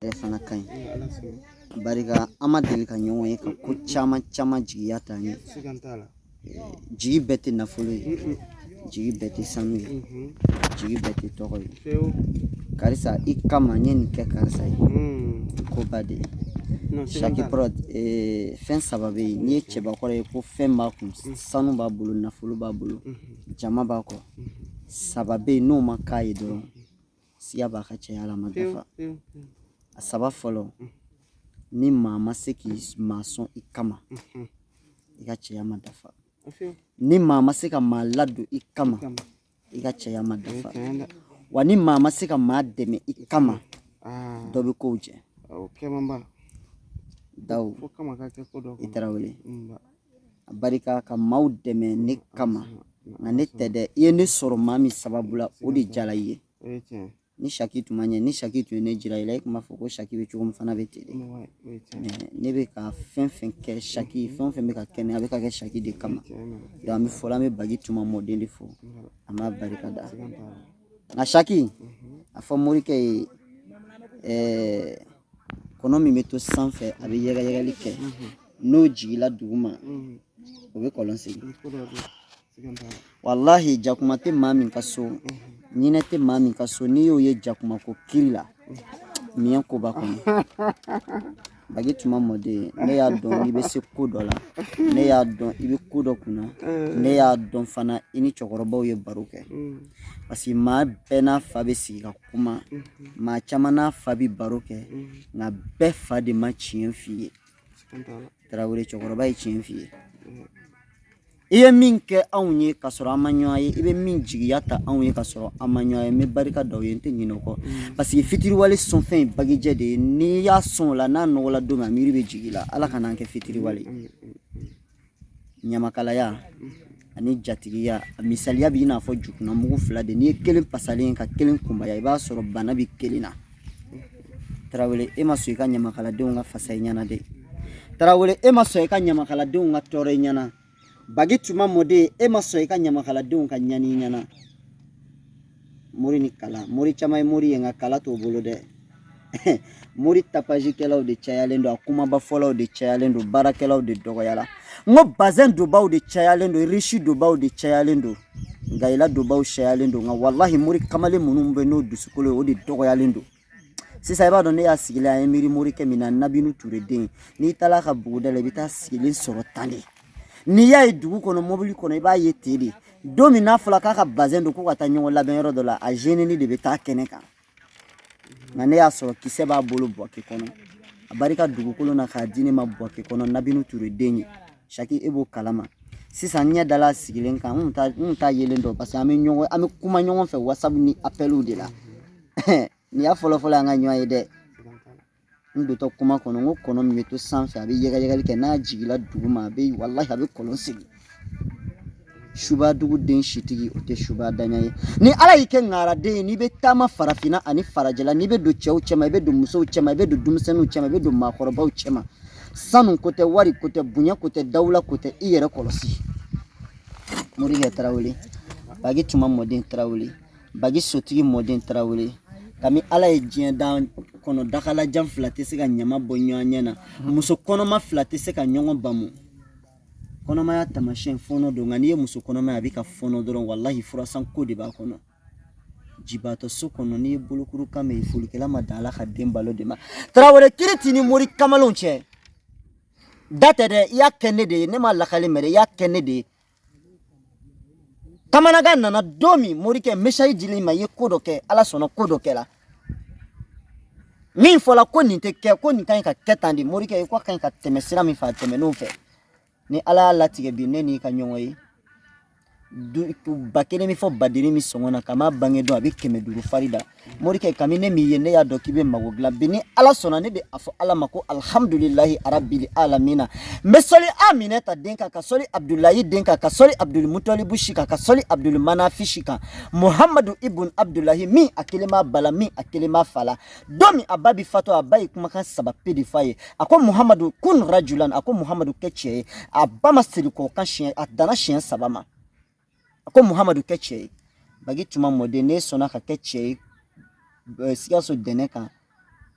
ale fana ka ɲi barika an ma deli ka ɲɔgɔn ye ka ko caman caman jigiya ta n ye jigi bɛɛ tɛ nafolo ye jigi bɛɛ tɛ sanu ye jigi bɛɛ tɛ tɔgɔ ye karisa i kama n ye nin kɛ karisa ye ko ba de ye shaki prod fɛn saba bɛ yen n'i ye cɛbakɔrɔ ye ko fɛn b'a kun sanu b'a bolo nafolo b'a bolo jama b'a kɔ saba bɛ yen n'o ma k'a ye dɔrɔn siga b'a ka cɛya la ma dafa a saba fɔlɔ ni maa ma se ka maa sɔn i kama i ka cɛya ma dafa ni maa ma se ka maa ladon i kama i ka cɛya ma dafa wa ni maa ma se ka maa dɛmɛ i kama dɔ bɛ kow jɛ daw i tarawele a barika ka maaw dɛmɛ ne kama nka ne tɛ dɛ i ye ne sɔrɔ maa min sababu la o de diyala i ye ni shaki tun ma ɲɛ ni shaki tun ye ne jira i la i tun b'a fɔ ko shaki bɛ cogo min fana bɛ ten ne bɛ ka fɛn fɛn kɛ shaki fɛn o fɛn bɛ ka kɛ ne a bɛ ka kɛ shaki de kama an bɛ fɔlɔ an bɛ bagi tuma mɔden de fo an b'a barika da nka shaki a fɔ morikɛ ye ɛɛ kɔnɔ min bɛ to sanfɛ a bɛ yɛrɛyɛrɛli kɛ n'o jiginla duguma o bɛ kɔlɔn segin walahi jakuma tɛ maa min ka so ɲinɛ tɛ maa min ka so n'i y'o ye jakuma ko kiri la ɲinɛ ko b'a kɔnɔ bagi tuma mɔden ne y'a dɔn i bɛ se ko dɔ la ne y'a dɔn i bɛ ko dɔ kunna ne y'a dɔn fana i ni cɛkɔrɔbaw ye baro kɛ parce que maa bɛɛ n'a fa bɛ sigi ka kuma maa caman n'a fa bɛ baro kɛ nka bɛɛ fa de ma tiɲɛ f'i ye tarawele cɛkɔrɔba ye tiɲɛ f'i ye i ye min kɛ anw ye ka sɔrɔ an ma ɲɔgɔn ye i bɛ min jigiya ta anw ye ka sɔrɔ an ma ɲɔgɔn ye n bɛ barika da o ye n tɛ ɲinɛ o kɔ parce que fitiriwale sɔnfɛn ye bagijɛ de ye n'i y'a sɔn o la n'a nɔgɔla don min a miiri bɛ jigin i la ala kana an kɛ fitiriwale ye ɲamakalaya ani jatigiya a misaliya bɛ i n'a fɔ jukunanmugu fila de n'i ye kelen pasalen ka kelen kunbaya i b'a sɔrɔ bana bɛ kelen na tarawele e ma sɔn i ka ɲamakaladenw ka fasa i ɲɛna dɛ tarawele e ma sɔn i ka ɲamakaladenw ka tɔɔrɔ i ɲɛna bagi tuma mɔden e ma sɔn i ka ɲamakaladenw ka ɲani i ɲɛna mori ni kala mori caman ye mori ye nka kala t'o bolo dɛ mori tapazikɛlaw de cayalen don a kumabafɔlaw de cayalen don baarakɛlaw de dɔgɔyara n ko bazɛn donbaw de cayalen don risi donbaw de cayalen don gaɲila donbaw cayalen don nka walahi mori kamalen minnu bɛ n'o dusukolo ye o de dɔgɔyalen don sisan i b'a dɔn ne y'a sigilen an ye miiri morikɛ min na nabintu ture den n'i taara a ka buguda la i bɛ t'a sigilen sɔrɔ tan de n'i y'a ye dugu kɔnɔ mobili kɔnɔ i b'a ye ten de don min n'a fɔra k'a ka bazɛn don ko ka taa ɲɔgɔn labɛn yɔrɔ dɔ la a zenini de bɛ taa kɛnɛ kan nka ne y'a sɔrɔ kisɛ b'a bolo buwake kɔnɔ a barika dugukolo na k'a di ne ma buwake kɔnɔ nabintu ture den ye saki e b'o kalama sisan n ɲɛ dala a sigilen kan n kun t'a yelen dɔn paseke an bɛ ɲɔgɔn an bɛ kuma ɲɔgɔn fɛ wasabu ni apɛliw de la nin y'a fɔlɔ fɔlɔ an ka ɲɔgɔn ye dɛ n dontɔ kuma kɔnɔ n ko kɔnɔ min bɛ to sanfɛ a bɛ yɛgɛyɛgɛli kɛ n'a jiginna duguma a bɛ walahi a bɛ kɔlɔn sen suba duguden sitigi o tɛ suba daɲa ye ni ala y'i kɛ ŋaraden ye n'i bɛ taama farafinna ani farajɛla n'i bɛ don cɛw cɛma i bɛ don musow cɛma i bɛ don denmisɛnninw cɛma i bɛ don maakɔrɔbaw cɛma sanu ko tɛ wari ko tɛ bonya ko tɛ dawula ko tɛ i yɛrɛ kɔlɔsi morikɛ tarawele bagi tuma mɔden tarawele bagi sotigi mɔden tarawele kami ala ye diɲɛ dan kɔnɔ dakalajan fila tɛ se ka ɲama bɔ ɲɔgɔn ɲɛ na muso kɔnɔma fila tɛ se ka ɲɔgɔn bamu kɔnɔmaya tamasiyɛn fɔnɔ don nka n'i ye muso kɔnɔma ye a bɛ ka fɔnɔ dɔrɔn walahi furasan ko de b'a kɔnɔ jibaatɔ so kɔnɔ n'i ye bolokuru kan mɛ folikɛla ma dan ala ka den balo de ma tarawele kiri t'i ni mori kamalenw cɛ da tɛ dɛ i y'a kɛ ne de ye ne ma lakali mɛ dɛ i y'a kɛ ne de ye kamanagan nana don min morikɛ mesayi dil'i ma i ye ko dɔ kɛ ala sɔnna ko dɔ kɛla min fɔla ko nin tɛ kɛ ko nin ka ɲi ka kɛ tan de morikɛ ye ko ka ɲi ka tɛmɛ sira min fɛ a tɛmɛn'o fɛ ni ala y'a latigɛ bi ne n'i ka ɲɔgɔn ye ba kelen min fɔ badiri min sɔngɔ na ka maa bange don a bɛ kɛmɛ duuru fari da morikɛ kami ne m'i ye ne y'a dɔn k'i bɛ mago dilan bi ni ala sɔnna ne bɛ a fɔ ala ma ko alihamudulilahi arabili alamina n bɛ sɔli aminata den kan ka sɔli abudulayi den kan ka sɔli abudulmutɔlibu si kan ka sɔli abudulmanafi si kan muhamadu ibun abudulahi min a kelen b'a ba la min a kelen b'a fa la don min a ba bi faatu a ba ye kumakan saba pe de fɔ a ye a ko muhamadu kun rajulan a ko muhamadu kɛ cɛ ye a ba ma segin ko kan siɲɛ a danna siɲɛ saba ma a ko muhamadu kɛ cɛ ye bagi tuma mɔden n'i sɔnna ka kɛ cɛ ye eh, sikaso dɛnɛ kan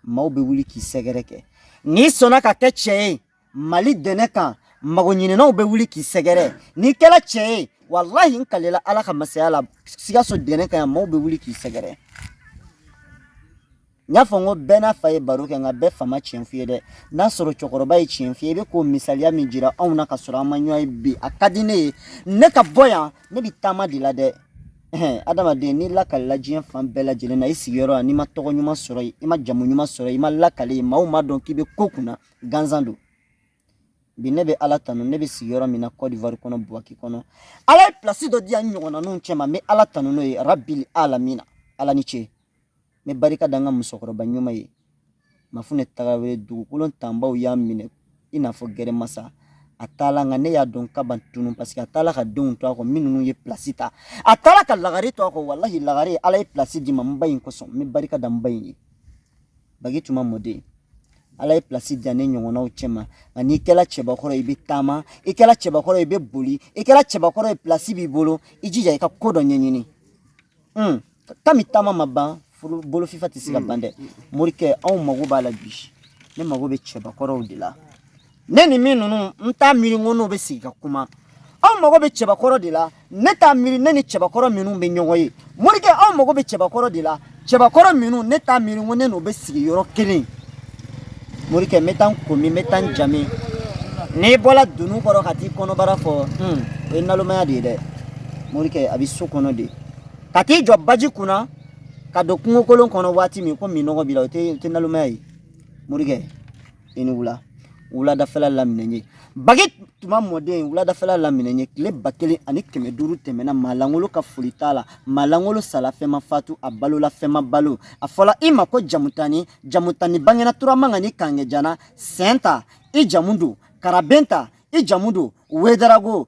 maaw bɛ wuli k'i sɛgɛrɛ kɛ n'i sɔnna ka kɛ cɛ ye mali dɛnɛ kan mago ɲininaw bɛ wuli k'i sɛgɛrɛ n'i kɛla cɛ ye walahi n kalela ala ka masaya la sikaso dɛnɛ kan yan maaw bɛ wuli k'i sɛgɛrɛ n y'a fɔ n ko bɛɛ n'a fa ye baro kɛ nka bɛɛ fa ma tiɲɛ f'i ye dɛ n'a sɔrɔ cɛkɔrɔba ye tiɲɛ f'i ye i bɛ k'o misaliya min jira anw na ka sɔrɔ an ma ɲɔgɔn ye bi a ka di ne ye ne ka bɔ yan ne bɛ taama de la dɛ adamaden n'i lakalila diɲɛ fan bɛɛ lajɛlen na i sigiyɔrɔ la n'i ma tɔgɔ ɲuman sɔrɔ yen i ma jamu ɲuman sɔrɔ yen i ma lakali yen maaw ma dɔn k'i bɛ ko kunna gansan don bi ne bɛ ala tanu ne bɛ sigiyɔrɔ min na cote d'ivoire kɔnɔ buwake kɔnɔ ala ye pilasi dɔ di yan ɲɔgɔnnaninw cɛma n bɛ ala tanu n'o ye rabili alamina ala ni ce n bɛ barika da n ka musokɔrɔba ɲuman ye mafunɛ tarawere dugukolo tanbaw y'a minɛ i n'a fɔ gɛrɛmasa a taala nka ne y'a dɔn k'a ma tunu parce que a taala ka denw to a kɔ minnu ye pilasi ta a taala ka lagare to a kɔ walahi lagare ala ye pilasi di n ma n ba in kosɔn n bɛ barika da n ba in ye bagi tuma mɔden ala ye pilasi di yan ne ɲɔgɔnnaw cɛma nka n'i kɛla cɛbakɔrɔ i bɛ taama i kɛla cɛbakɔrɔ i bɛ boli i kɛla cɛbakɔrɔ ye pilasi b'i bolo i jija i ka ko dɔ ɲɛɲini un kami taama ma ban bolofifa tɛ se ka ban dɛ morikɛ anw mago b'a la bi ne mago bɛ cɛbakɔrɔw de la ne ni min ninnu n t'a miiri ko n'o bɛ sigi ka kuma anw mago bɛ cɛbakɔrɔ de la ne t'a miiri ne ni cɛbakɔrɔ minnu bɛ ɲɔgɔn ye morikɛ anw mago bɛ cɛbakɔrɔ de la cɛbakɔrɔ minnu ne t'a miiri ko ne n'o bɛ sigi yɔrɔ kelen morikɛ n bɛ taa n komi n bɛ taa n jami n'i bɔra dunun kɔrɔ ka t'i kɔnɔbara fɔ o ye nalomaya de ye dɛ morikɛ a bɛ so kɔnɔ de ka t'i jɔ baji kunna ka don kungokolon kɔnɔ waati min ko minnɔgɔ b'i la o tɛ o tɛ nalomaya ye morikɛ i ni wula wuladafɛla laminɛ ye bagi tuma mɔden wuladafɛla laminɛ ye tile ba kelen ani kɛmɛ duuru tɛmɛna maa lankolon ka foli t'a la maa lankolon sala fɛn ma fatu a balola fɛn ma balo a fɔla i ma ko jamutani jamutani bangena turamanga ni kangejana sɛn ta i jamu don karaben ta i jamu don wedarago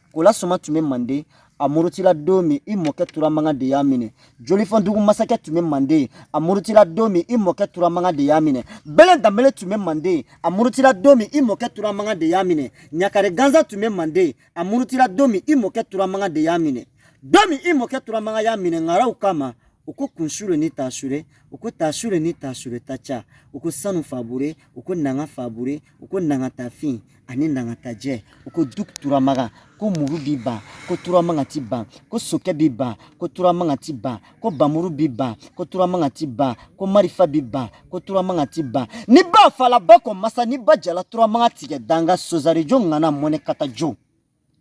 Kola soma tun bɛ manden a murutila don min i mɔkɛ turamanga de y'a minɛ jolifɔn dugu masakɛ tun bɛ manden a murutila don min i mɔkɛ turamanga de y'a minɛ bɛlɛ danbele tun bɛ manden a murutila don min i mɔkɛ turamanga de y'a minɛ ɲakare gansan tun bɛ manden a murutila don min i mɔkɛ turamanga de y'a minɛ don min i mɔkɛ turamanga y'a minɛ ŋaraw kama u ko kunsure ni tasure u ko tasure ni tasure ta ca u ko sanu fabure u ko nanga fabure u ko nangatafin ani nangatajɛ u ko dugu turamaga ko muru b'i ban ko turamanga t'i ban ko sokɛ b'i ban ko turamanga t'i ban ko bamuru b'i ban ko turamanga t'i ban ko marifa b'i ban ko turamanga t'i ban ni ba fala bakɔ masa ni ba jala turamanga tigɛ danga sozarijo ŋana mɔnɛ kata jo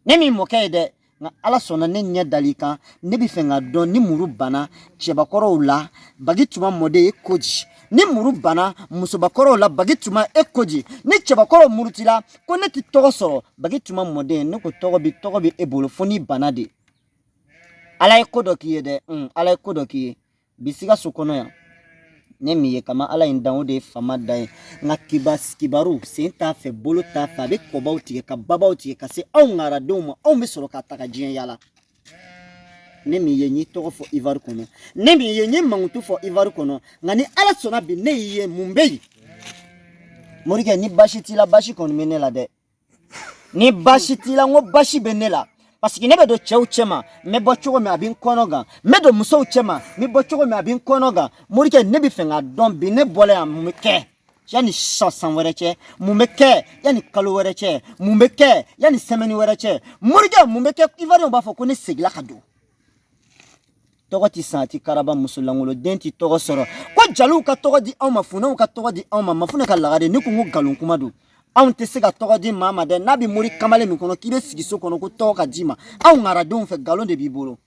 ne m'i mɔkɛ ye dɛ nka ala sɔnna ne ɲɛ dal'i kan ne bɛ fɛ k'a dɔn ni muru banna cɛbakɔrɔw la bagi tuma mɔden e ko di ni muru banna musobakɔrɔw la bagi tuma e ko di ni cɛbakɔrɔw murutila ko ne tɛ tɔgɔ sɔrɔ bagi tuma mɔden ne ko tɔgɔ bi tɔgɔ bi e bolo fo n'i banna de ala ye ko dɔ k'i ye dɛ ala ye ko dɔ k'i ye bi sikaso kɔnɔ yan ne m'i ye kama ala ye n dan o de ye fama da ye nka kiba kibaru sen t'a fɛ bolo t'a fɛ a bɛ kɔbaw tigɛ ka babaw tigɛ ka se anw ŋaradenw ma anw bɛ sɔrɔ k'a ta ka diɲɛ yala ne m'i ye n y'i tɔgɔ fɔ ivari kɔnɔ ne m'i ye n y'i mankutu fɔ ivari kɔnɔ nka ni ala sɔnna bi ne y'i ye mun bɛ yen morikɛ ni basi t'i la basi kɔni bɛ ne la dɛ ni baasi t'i la n ko baasi bɛ ne la paseke ne bɛ don cɛw cɛma n bɛ bɔ cogo min a bɛ n kɔnɔ gan n bɛ don musow cɛma n bɛ bɔ cogo min a bɛ n kɔnɔ gan morikɛ ne bɛ fɛ k'a dɔn bi ne bɔla yan mun bɛ kɛ yanni sisan san wɛrɛ cɛ mun bɛ kɛ yanni kalo wɛrɛ cɛ mun bɛ kɛ yanni sɛmɛni wɛrɛ cɛ morikɛ mun bɛ kɛ ivoiriyɛnw b'a fɔ ko ne segila ka don tɔgɔ tɛ san a tɛ karaba muso langolo den tɛ tɔgɔ sɔrɔ ko jaliw ka tɔgɔ di anw ma funɛw ka tɔgɔ di anw ma mafunɛ ka lagare ne ko n ko nkalon kuma don anw tɛ se ka tɔgɔ di maa ma dɛ n'a bɛ mori kamalen min kɔnɔ k'i bɛ sigi so kɔnɔ ko tɔgɔ ka d'i ma anw ŋaradenw fɛ nkalon de b'i bolo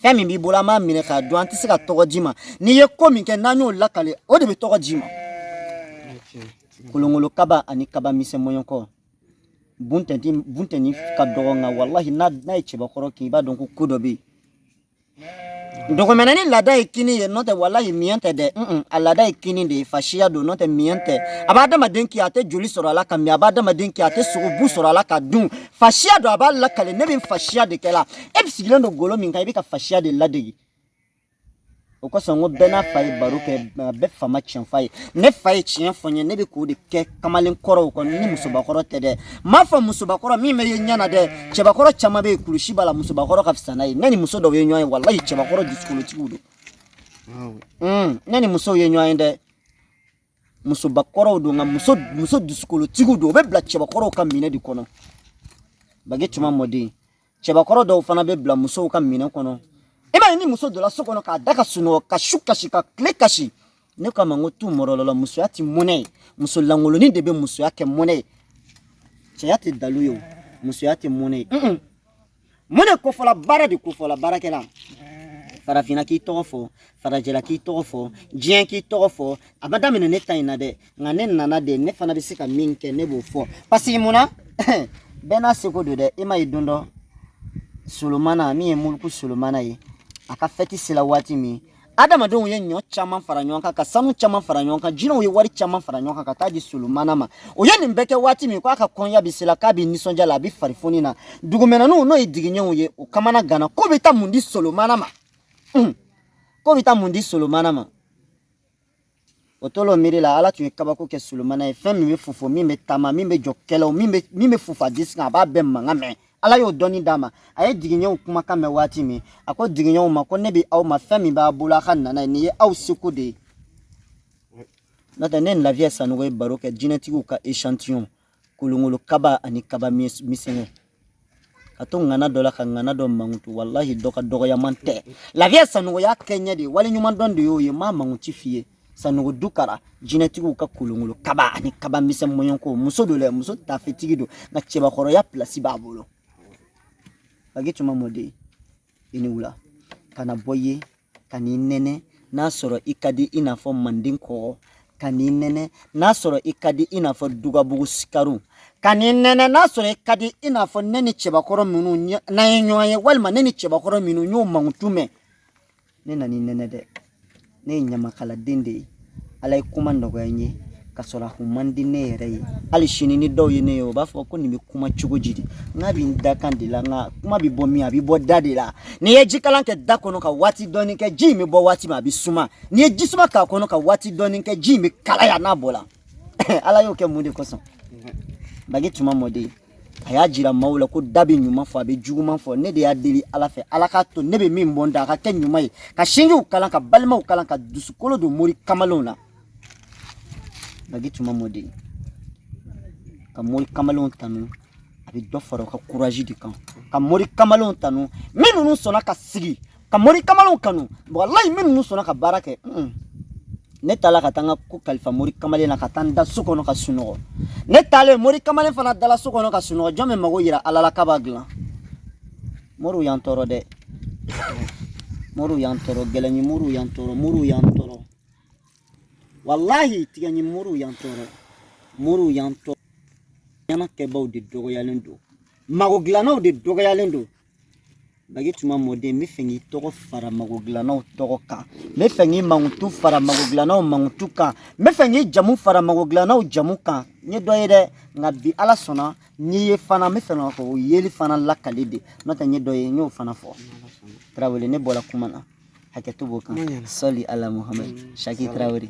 fɛn min b'i bolo an b'a minɛ k'a dun an tɛ se ka tɔgɔ d'i ma n'i ye ko min kɛ n'an y'o lakale o de bɛ tɔgɔ d'i ma kolonkolo kaba ani kaba misɛnmɔɲɔkɔ buntɛni buntɛni ka dɔgɔ nka walahi n'a n'a ye cɛbakɔrɔ kin i b'a dɔn ko ko dɔ bɛ yen dugumɛnɛnin laada ye kinni ye n'o tɛ walahi miɲɛ tɛ dɛ a laada ye kinni de ye fasiya don n'o tɛ miɲɛ tɛ a bɛ adamaden kin a tɛ joli sɔrɔ a la ka min a bɛ adamaden kin a tɛ sogobu sɔrɔ a la ka dun fasiya don a b'a lakale ne bɛ fasiya de kɛ la e bɛ sigilen don golo min kan i bɛ ka fasiya de ladege o kosɔn ko bɛɛ n'a fa ye baro kɛ bɛɛ fa ma tiɲɛ f'a ye ne fa ye tiɲɛ fɔ n ye ne bɛ k'o de kɛ kamalen kɔrɔw kɔnɔ ni musobakɔrɔ tɛ dɛ n m'a fɔ musobakɔrɔ min bɛ ye ɲɛ na dɛ cɛbakɔrɔ caman bɛ yen kulusi b'a la musobakɔrɔ ka fisa n'a ye ne ni muso dɔw ye ɲɔgɔn ye walayi cɛbakɔrɔ dusukolotigiw don hmm, ne ni musow ye ɲɔgɔn ye dɛ musobakɔrɔw don nka muso muso dusukolotigiw don o bɛ bila cɛbakɔrɔw ka minɛn de kɔnɔ bage tuma mɔden cɛbakɔrɔ dɔw fana bɛ bila musow ka minɛn kɔnɔ i m'a ye ni muso donna so kɔnɔ k'a da ka sunɔgɔ ka su kasi ka tile kasi ne k'a ma n ko tu mɔrɔlɔla musoya tɛ mɔnɛ ye muso langolonin de bɛ musoya kɛ mɔnɛ ye cɛya tɛ dalu ye o musoya tɛ mɔnɛ ye mun de kofɔla baara de kofɔla baarakɛla farafinna k'i tɔgɔ fɔ farajɛla k'i tɔgɔ fɔ diɲɛ k'i tɔgɔ fɔ a ma daminɛ ne ta in na dɛ nka ne nana de ne fana bɛ se ka min kɛ ne b'o fɔ paseke mun na bɛɛ n'a seko don dɛ e ma ye don dɔ solomana min ye muluku solomana ye a ka fɛti sela waati min adamadenw ye ɲɔ caman fara ɲɔgɔn kan ka sanu caman fara ɲɔgɔn kan jinɛw ye wari caman fara ɲɔgɔn kan ka taa di solomana ma o ye nin bɛɛ kɛ waati min k'a ka kɔnya bɛ sela k'a bɛ nisɔndiya la a bɛ farifoni na dugumɛnɛninw n'o ye digiɲɛw ye o kamana ganna k'o bɛ taa mun di solomana ma k'o bɛ taa mun di solomana ma o tola miiri la ala tun ye kabako kɛ solomana ye fɛn min bɛ fofo min bɛ taama min bɛ jɔ kɛlɛw min bɛ min bɛ fof'a disi kan a b'a bɛɛ mankan mɛn ala y'o dɔnni d'a ma a ye digiɲɛw kumakan mɛn waati min a ko digiɲɛw ma ko ne bɛ aw ma fɛn min b'a bolo a ka na n'a ye nin ye aw seko de ye n'o tɛ ne ni lafiya sanogo ye baro kɛ jinɛtigiw ka echantillon kolongolo kaba ani kaba misɛnw ka to ŋana dɔ la ka ŋana dɔ mankutu walahi dɔ ka dɔgɔyaman tɛ lafiya sanɔgɔya kɛɲɛ de wali ɲuman dɔn de y'o ye n m'a mankutu f'i ye sanogo dukara jinɛtigiw ka kolongolo kaba ani kaba misɛn mɔɲɔnko muso don dɛ muso tafetigi don nka cɛbakɔrɔya pilasi b'a bolo bagi tuma mɔden i ni wula ka na bɔ ye ka n'i nɛnɛ n'a sɔrɔ i ka di i n'a fɔ manden kɔgɔ ka n'i nɛnɛ n'a sɔrɔ i ka di i n'a fɔ dugabugu sikaru ka n'i nɛnɛ n'a sɔrɔ i ka di i n'a fɔ ne ni cɛbakɔrɔ minnu n'an ye ɲɔgɔn ye walima ne ni cɛbakɔrɔ minnu n y'o mankutu mɛn ne nan'i nɛnɛ dɛ ne ye ɲamakaladen de ye ala ye kuma nɔgɔya n ye ka sɔrɔ a kun man di ne yɛrɛ ye hali sini ni dɔ ye ne ye o b'a fɔ ko nin bɛ kuma cogo di de nk'a bɛ n dakan de la nka kuma bɛ bɔ min a bɛ bɔ da de la n'i ye jikalan kɛ da kɔnɔ ka waati dɔɔni kɛ ji in bɛ bɔ waati min a bɛ suma n'i ye ji suma k'a kɔnɔ ka waati dɔɔni kɛ ji in bɛ kalaya n'a bɔra ala y'o kɛ mun de kosɔn bagi tuma mɔden a y'a jira maaw la ko da bɛ ɲuman fɔ a bɛ juguman fɔ ne de y'a deli ala fɛ ala k'a to ne bɛ min bɔ n da a ka kɛ ɲuman ye ka sinjiw kala ka balimaw kala ka dusukolo don mori kamalenw na bagi tuma mɔden ka mori kamalenw tanu a bɛ dɔ fara u ka kurazi de kan ka mori kamalenw tanu minnu sɔnna ka sigi ka mori kamalenw kanu walayi minnu sɔnna ka baara kɛ ne taala ka taa n ka ko kalifa mori kamalen na ka taa n da so kɔnɔ ka sunɔgɔ ne taalen mori kamalen fana dala so kɔnɔ ka sunɔgɔ jɔn bɛ mago yira ala la k'a b'a dilan moriw y'an tɔɔrɔ dɛ moriw y'an tɔɔrɔ gɛlɛnni moriw y'an tɔɔrɔ moriw y'an tɔɔrɔ walahi tigɛni moriw y'an tɔɔrɔ moriw y'an tɔɔrɔ ɲɛna kɛbaaw de dɔgɔyalen don mago dilannaw de dɔgɔyalen don bagi tuma mɔden n bɛ fɛ k'i tɔgɔ fara mago dilannaw tɔgɔ kan n bɛ fɛ k'i mankutu fara mago dilannaw mankutu kan n bɛ fɛ k'i jamu fara mago dilannaw jamu kan n ye dɔ ye dɛ nka bi ala sɔnna n'i ye fana n bɛ fɛ k'o yeli fana lakali de n'o tɛ n ye dɔ ye n y'o fana fɔ tarawele ne bɔra kuma na hakɛto b'o kan sali ala muhamadu saki tarawele